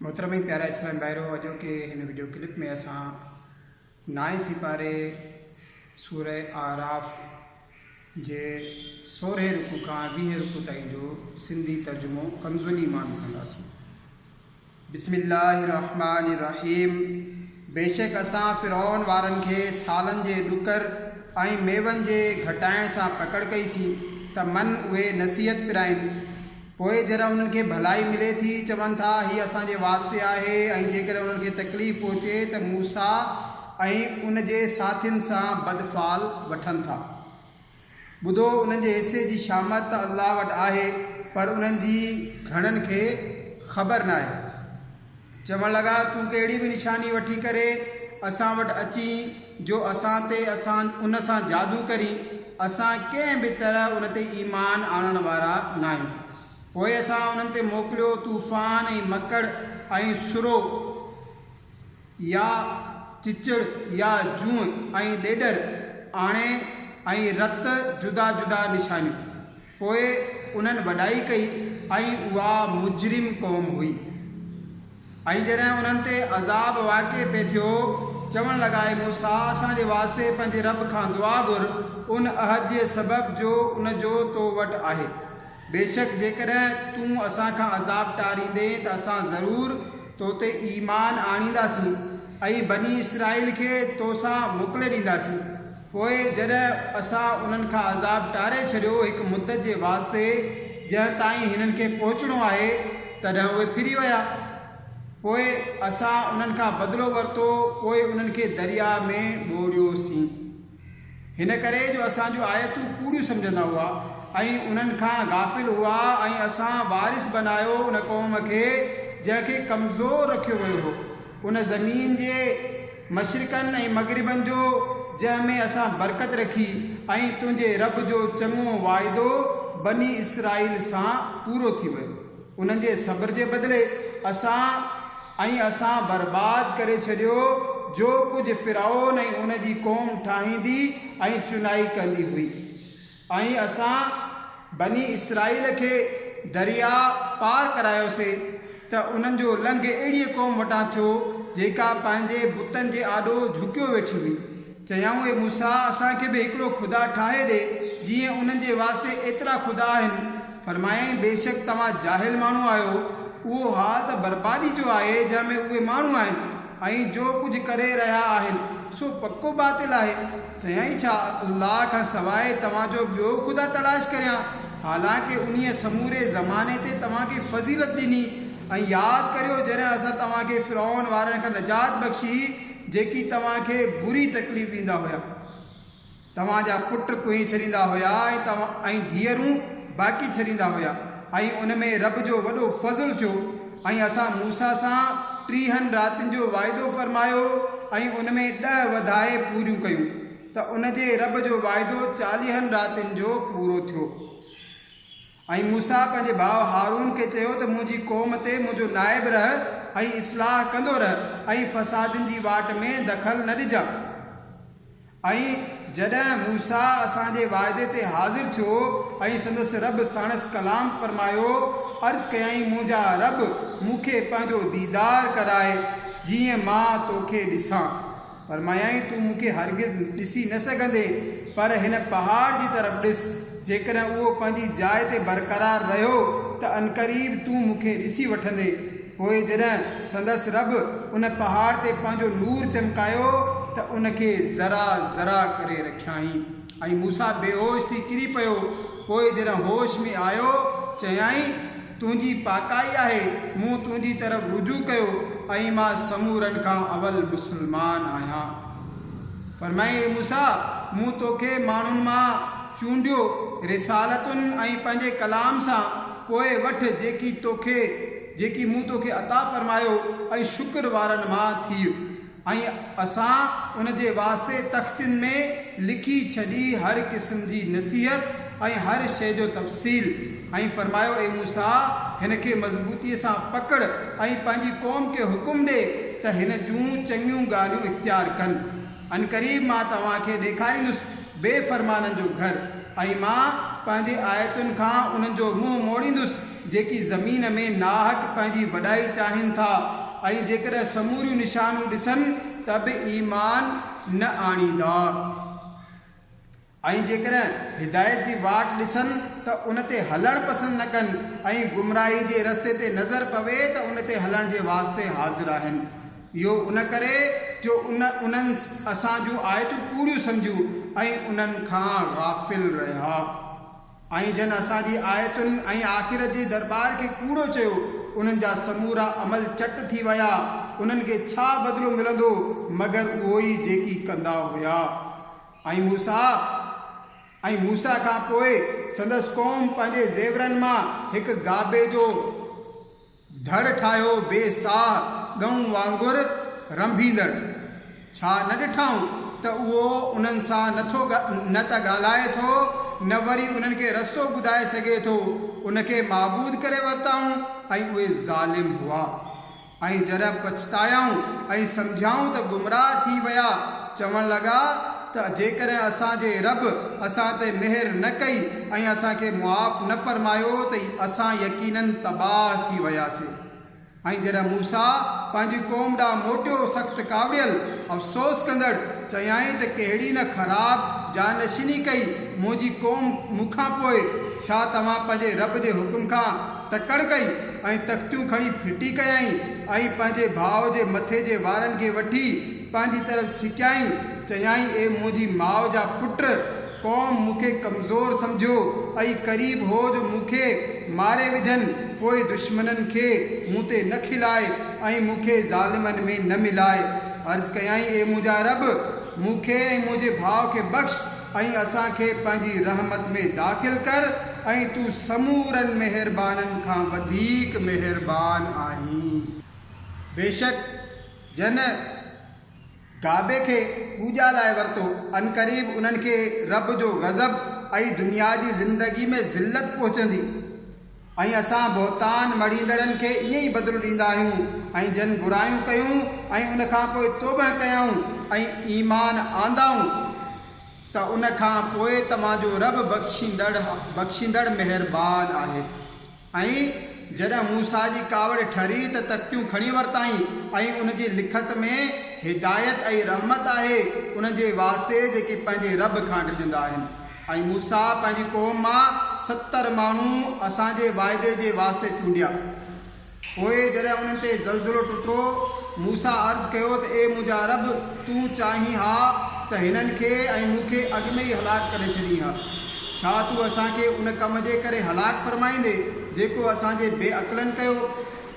محترم ۽ پيارا اسلامي ڀائرو اڄوڪي هن وڊيو ڪلپ ۾ اسان نائين سيپاري سوره اعراف جي سورهين رڪوع کان ويهين رڪوع تائين جو سنڌي ترجمو ڪمزلي مان ٻڌنداسين بسم الله الرحمن الرحيم بيشڪ اسان فرعون وارن کي سالن جي ڏڪر ۽ ميون جي گهٽائڻ سان پڪڙ ڪئي سين ته من اهي نصيحت پرائين پوء جڏهن انهن کي ڀلائي ملي ٿي، چون ٿا، هي اسان جي واسطي آهي ۽ جيڪڏهن انهن کي تڪليف پهچي ته موسيٰ ۽ ان جي ساٿين سان بد فعل وٺن ٿا. ٻڌو! انهن جي حصي جي شامت ته الله وٽ آهي، پر انهن جي گهڻن کي خبر ناهي. چوڻ لڳا، تون ڪهڙي به نشاني وٺي ڪري اسان وٽ اچين جو اسان تي اسان ان سان جادو ڪرين، اسان ڪنهن به طرح ان تي ايمان آڻڻ وارا ناهيون. پوء اسان انهن تي موڪليو طوفان ۽ مڪڙ ۽ سرو يا چچڙ يا جونء ۽ ڏيڏر آڻي ۽ رت جدا جدا نشانيون. پوء انهن وڏائي ڪئي ۽ اها مجرم قوم هئي. ۽ جڏهن انهن تي عذاب واقع پئي ٿيو، چوڻ لڳا، اي موسيٰ! اسان جي واسطي پنهنجي رب کان دعا گهر، ان عهد جي سبب جو ان جو تو وٽ آهي. بيشڪ جيڪڏهن تون اسان کان عذاب ٽاريندين ته اسان ضرور تو تي ايمان آڻينداسين ۽ بني اسرائيل کي تو سان موڪلي ڏينداسين. پوء جڏهن اسان انهن کان عذاب ٽاري ڇڏيو هڪ مدت جي واسطي جنهن تائين هنن کي پهچڻو آهي تڏهن اهي ڦري ويا پوء اسان انهن کان بدلو ورتو پوء انهن کي درياء ۾ ٻوڙيوسين هن ڪري جو اسان جون آيتون ڪوڙيون سمجهندا هئا ۽ انهن کان غافل هئا ۽ اسان وارث بنايو ان قوم کي جنهن کي ڪمزور رکيو ويو هو ان زمين جي مشرقن ۽ مغربن جو جنهن ۾ اسان برڪت رکي ۽ تنهنجي رب جو چڱو واعدو بني اسرائيل سان پورو ٿي ويو انهن جي صبر جي بدلي اسان ۽ اسان برباد ڪري ڇڏيو جو ڪجهه فرعون ۽ ان جي قوم ٺاهيندي ۽ چنائي ڪندي هئي. ۽ اسان بني اسرائيل کي درياء پار ڪرايوسي ته انهن جو لنگهه اهڙيء قوم وٽان ٿيو، جيڪا پنهنجي بتن جي آڏو جهڪيو ويٺي هئي. چيائون، اي موسيٰ! اسان کي به هڪڙو خدا ٺاهي ڏي، جيئن انهن جي واسطي ايترا خدا آهن. فرمايائين، بيشڪ توهان جاهل ماڻهو آهيو. اهو حال ته بربادي جو آهي، جنهن ۾ اهي ماڻهو آهن، ۽ جو ڪجهه ڪري رهيا آهن، سو پڪو باطل آهي. چيائين، ڇا الله کان سواء توهان جو ٻيو خدا تلاش ڪريان، حالانڪه انهيء سموري زماني تي توهان کي فضيلت ڏني ۽ ياد ڪريو جڏهن اسان توهان کي فرعون وارن کان نجات بخشي جيڪي توهان کي بري تڪليف ڏيندا هيا. توهان جا پٽ ڪوهين ڇڏيندا هيا ۽ ڌيئرون باقي ڇڏيندا هيا. ۽ ان ۾ رب جو وڏو فضل ٿيو ۽ اسان موسيٰ سان ٽيهن راتين جو واعدو فرمايو ۽ ان ۾ ڏهه وڌائي پوريون ڪيون ته ان جي رب جو واعدو چاليهن راتين جو پورو ٿيو ۽ موسيٰ پنهنجي ڀاء هارون کي چيو ته منهنجي قوم تي منهنجو نائب رهه ۽ اصلاح ڪندو رهه ۽ فسادين جي واٽ ۾ دخل نه ڏجان ۽ جڏهن موسيٰ اسان جي وعدي تي حاضر ٿيو ۽ سندس رب ساڻس ڪلام فرمايو، عرض ڪيائين، منهنجا رب! مون کي پنهنجو ديدار ڪراء، جيئن مان تو کي ڏسان. فرمايائين، تون مون کي هرگز ڏسي نه سگهندين، پر هن پهاڙ جي طرف ڏس، جيڪڏهن اهو پنهنجي جاء تي برقرار رهيو ته عنقريب تون مون کي ڏسي وٺندين. پوء جڏهن سندس رب ان پهاڙ تي پنهنجو نور چمڪايو ته ان کي ذرا ذرا ڪري رکيائين ۽ موسيٰ بيهوش ٿي ڪري پيو، پوء جڏهن هوش ۾ آيو، چيائين، تنهنجي پاڪائي آهي، مون تنهنجي طرف رجوع ڪيو ۽ مان سمورن کان اول مسلمان آهيان. فرمايائين، اي موسيٰ! مون توکي ماڻهن مان. چونڊيو رسالتن ۽ پنهنجي ڪلام سان پوء وٺ جيڪي توکي جيڪي مون توکي عطا فرمايو ۽ شڪر وارن مان ٿيء ۽ اسان ان جي واسطي تختين ۾ لکي ڇڏي هر قسم جي نصيحت ۽ هر شيء جو تفصيل ۽ فرمايو اي موسيٰ هن کي مضبوطيء سان پڪڙ ۽ پنهنجي قوم کي حڪم ڏي ته هن جون چڱيون ڳالهيون اختيار ڪن. عنقريب مان توهان کي ڏيکاريندس بي فرمانن جو گهر ۽ مان پنهنجي آيتن کان انهن جو منهن موڙيندس جيڪي زمين ۾ ناحق پنهنجي وڏائي چاهين ٿا ۽ جيڪڏهن سموريون نشانيون ڏسن ته به ايمان نه آڻيندا. ۽ جيڪڏهن هدايت جي واٽ ڏسن ته ان تي هلڻ پسند نه ڪن ۽ گمراهي جي رستي تي نظر پوي ته ان تي هلڻ جي واسطي حاضر آهن. اهو ان ڪري جو ان انهن اسان جون آيتون ڪوڙيون سمجهيون ۽ انهن کان غافل رهيا. ۽ جن اسان جي آيتن ۽ آخرت جي درٻار کي ڪوڙو چيو، انهن جا سمورا عمل چٽ ٿي ويا. انهن کي ڇا بدلو ملندو مگر اهو ئي جيڪي ڪندا هيا. ۽ موسيٰ ۽ موسيٰ کان پوء سندس قوم پنهنجي زيورن مان هڪ گابي جو ڌڙ ٺاهيو بي ساهه ڳئون وانگر رنڀيندڙ، ڇا نه ڏٺائون ته اهو انهن سان نه ٿو نه ته ڳالهائي ٿو نه وري انهن کي رستو ٻڌائي سگهي ٿو، ان کي معبود ڪري ورتائون ۽ اهي ظالم هئا. ۽ جڏهن پڇتايائون ۽ سمجهيائون ته گمراهه ٿي ويا، چوڻ لڳا ته جيڪڏهن اسان جي رب اسان تي مهر نه ڪئي ۽ اسان کي معاف نه فرمايو ته اسان يقيناً تباهه ٿي وياسين. ۽ جڏهن موسيٰ پنهنجي قوم ڏانهن موٽيو سخت ڪاوڙيل، افسوس ڪندڙ، چيائين ته ڪهڙي نه خراب جانشيني ڪئي منهنجي قوم مون کان پوء، ڇا توهان پنهنجي رب جي حڪم کان تڪڙ ڪئي ۽ تختيون کڻي ڦٽي ڪيائين ۽ پنهنجي ڀاء جي مٿي جي وارن کي وٺي پنهنجي طرف ڇڪيائين. چيائين، اي منهنجي ماء جا پٽ! قوم مون کي ڪمزور سمجهيو ۽ قريب هو جو مون کي ماري وجهن، پوء دشمنن کي مون تي نه کلائي ۽ مون کي ظالمن ۾ نه ملائي. عرض ڪيائين، اي منهنجا رب! مون کي ۽ منهنجي ڀاء کي بخش ۽ اسان کي پنهنجي رحمت ۾ داخل ڪر ۽ تون سمورن مهربانن کان وڌيڪ مهربان آهين. بيشڪ جن ڪعبي کي پوڄا لاء ورتو، عنقريب انهن کي رب جو غضب ۽ دنيا جي زندگي ۾ ذلت پهچندي. ۽ اسان بهتان مڙهيندڙن کي ائين ئي بدلو ڏيندا آهيون ۽ جن برايون ڪيون ۽ ان کان پوء توبهه ڪيائون ۽ ايمان آندائون ته ان کان پوء توهان جو رب بخشيندڙ بخشيندڙ مهربان آهي. ۽ جڏهن موسيٰ جي ڪاوڙ ٺري ته تختيون کڻي ورتائين ۽ ان جي لکت ۾ هدايت ۽ رحمت آهي انهن جي واسطي جيڪي پنهنجي رب کان ڊڄندا آهن. ۽ موسيٰ پنهنجي قوم مان ستر ماڻهو اسان جي واعدي جي واسطي چونڊيا. پوء جڏهن انهن تي زلزلو ٽٽو، موسيٰ عرض ڪيو ته اي منهنجا رب! تون چاهين ها ته هنن کي ۽ مون کي اڳ ۾ ئي هلاڪ ڪري ڇڏين ها. ڇا تون اسان کي ان ڪم جي ڪري هلاڪ فرمائيندين، جيڪو اسان جي بي عقلن ڪيو؟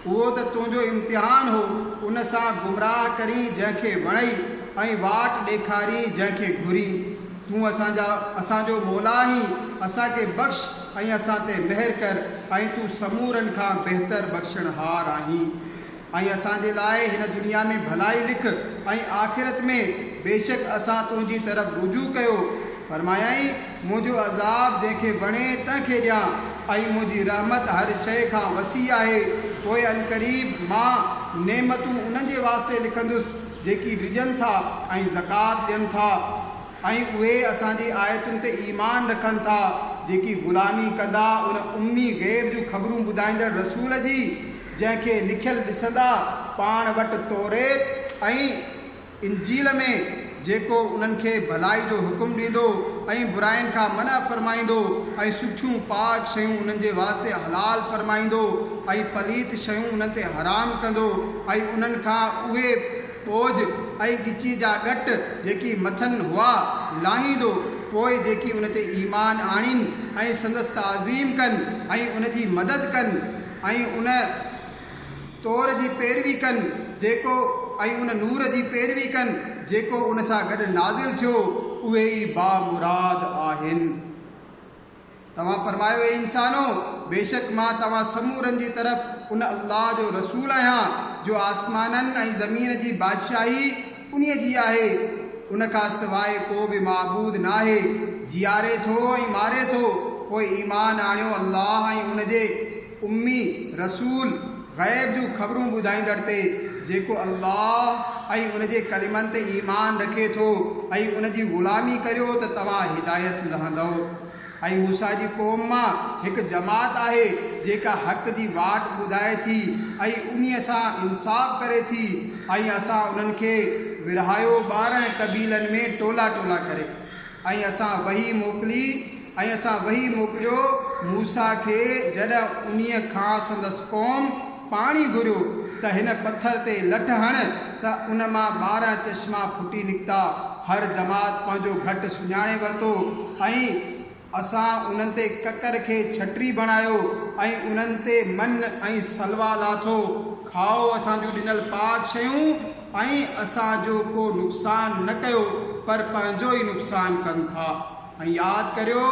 اهو ته تنهنجو امتحان هو، ان سان گمراهه ڪرين جنهن کي وڻئي ۽ واٽ ڏيکارين جنهن کي گهرين. تون اسان جا اسان جو مولا آهين، اسان کي بخش ۽ اسان تي مهر ڪر ۽ تون سمورن کان بهتر بخشڻهار آهين. ۽ اسان جي لاء هن دنيا ۾ ڀلائي لک ۽ آخرت ۾، بيشڪ اسان تنهنجي طرف رجوع ڪيو. فرمايائين. منهنجو عذاب جنهن کي وڻي تنهن کي ڏيان ۽ منهنجي رحمت هر شيء کان وسيع آهي، پوء عنقريب مان نعمتون انهن جي واسطي لکندس جيڪي ڊڄن ٿا ۽ زڪوات ڏين ٿا ۽ اهي اسان جي آيتن تي ايمان رکن ٿا جيڪي غلامي ڪندا ان امي غيب جون خبرون ٻڌائيندڙ رسول جي جنهن کي لکيل ڏسندا پاڻ وٽ توريت ۽ انجيل ۾ جيڪو انهن کي ڀلائي جو حڪم ڏيندو ۽ برائين کان منع فرمائيندو ۽ سٺيون، پاڪ، شيون انهن جي واسطي حلال فرمائيندو ۽ پليت شيون انهن تي حرام ڪندو ۽ انهن کان اهي ٻوجهه ۽ ڳچي جا ڳٽ جيڪي مٿن هئا لاهيندو پوء جيڪي ان تي ايمان آڻين ۽ سندس تعظيم ڪن ۽ ان جي مدد ڪن ۽ ان طور جي پيروي ڪن جيڪو ۽ ان نور جي پيروي ڪن جيڪو ان سان گڏ نازل ٿيو، اهي ئي بامراد آهن. توهان فرمايو، اي انسانو! بيشڪ مان توهان سمورن جي طرف ان الله جو رسول آهيان جو آسمانن ۽ زمين جي بادشاهي انهيء جي آهي، ان کان سواء ڪو به معبود ناهي، جيئاري ٿو ۽ ماري ٿو، پوء ايمان آڻيو الله ۽ ان جي. امي رسول غيب جون خبرون ٻڌائيندڙ تي، جيڪو الله ۽ ان جي ڪلمن تي ايمان رکي ٿو ۽ ان جي غلامي ڪريو ته توهان هدايت لهندؤ. ۽ موسيٰ جي قوم مان هڪ جماعت آهي جيڪا حق جي واٽ ٻڌائي ٿي ۽ انهي سان انصاف ڪري ٿي ۽ اسان انهن کي ورهايو ٻارنهن قبيلن ۾ ٽولا ٽولا ڪري. ۽ اسان وحي موڪلي ۽ اسان وحي موڪليو موسيٰ کي جڏهن انهيء کان سندس قوم پاڻي گهريو ته هن پٿر تي لٺ هڻ ته ان مان ٻارهن چشما ڦٽي نڪتا هر جماعت پنهنجو گهٽ سڃاڻي ورتو ۽ اسان انهن تي ڪڪر کي ڇٽري بڻايو ۽ انهن تي من ۽ سلويٰ لاٿو. کائو اسان جون ڏنل پاڪ شيون ۽ اسان جو ڪو نقصان نه ڪيو پر پنهنجو ئي نقصان ڪن ٿا. ۽ ياد ڪريو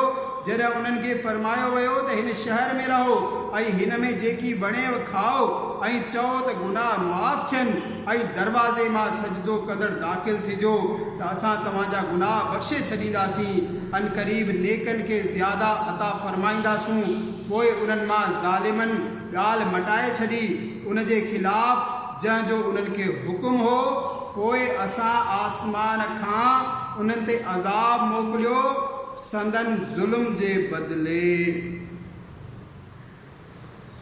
جڏهن انهن کي فرمايو ويو ته هن شهر ۾ رهو ۽ هن ۾ جيڪي وڻيو کائو ۽ چئو ته گناهه معاف ٿين. ۽ دروازي مان سجدو ڪندڙ داخل ٿجو ته اسان توهان جا گناهه بخشي ڇڏينداسين، عنقريب نيڪن کي زياده عطا فرمائينداسون، پوء انهن مان ظالمن ڳالهه مٽائي ڇڏي، ان جي خلاف جنهن جو انهن کي حڪم هو، پوء اسان آسمان کان انهن تي عذاب موڪليو سندن ظلم جي بدلي.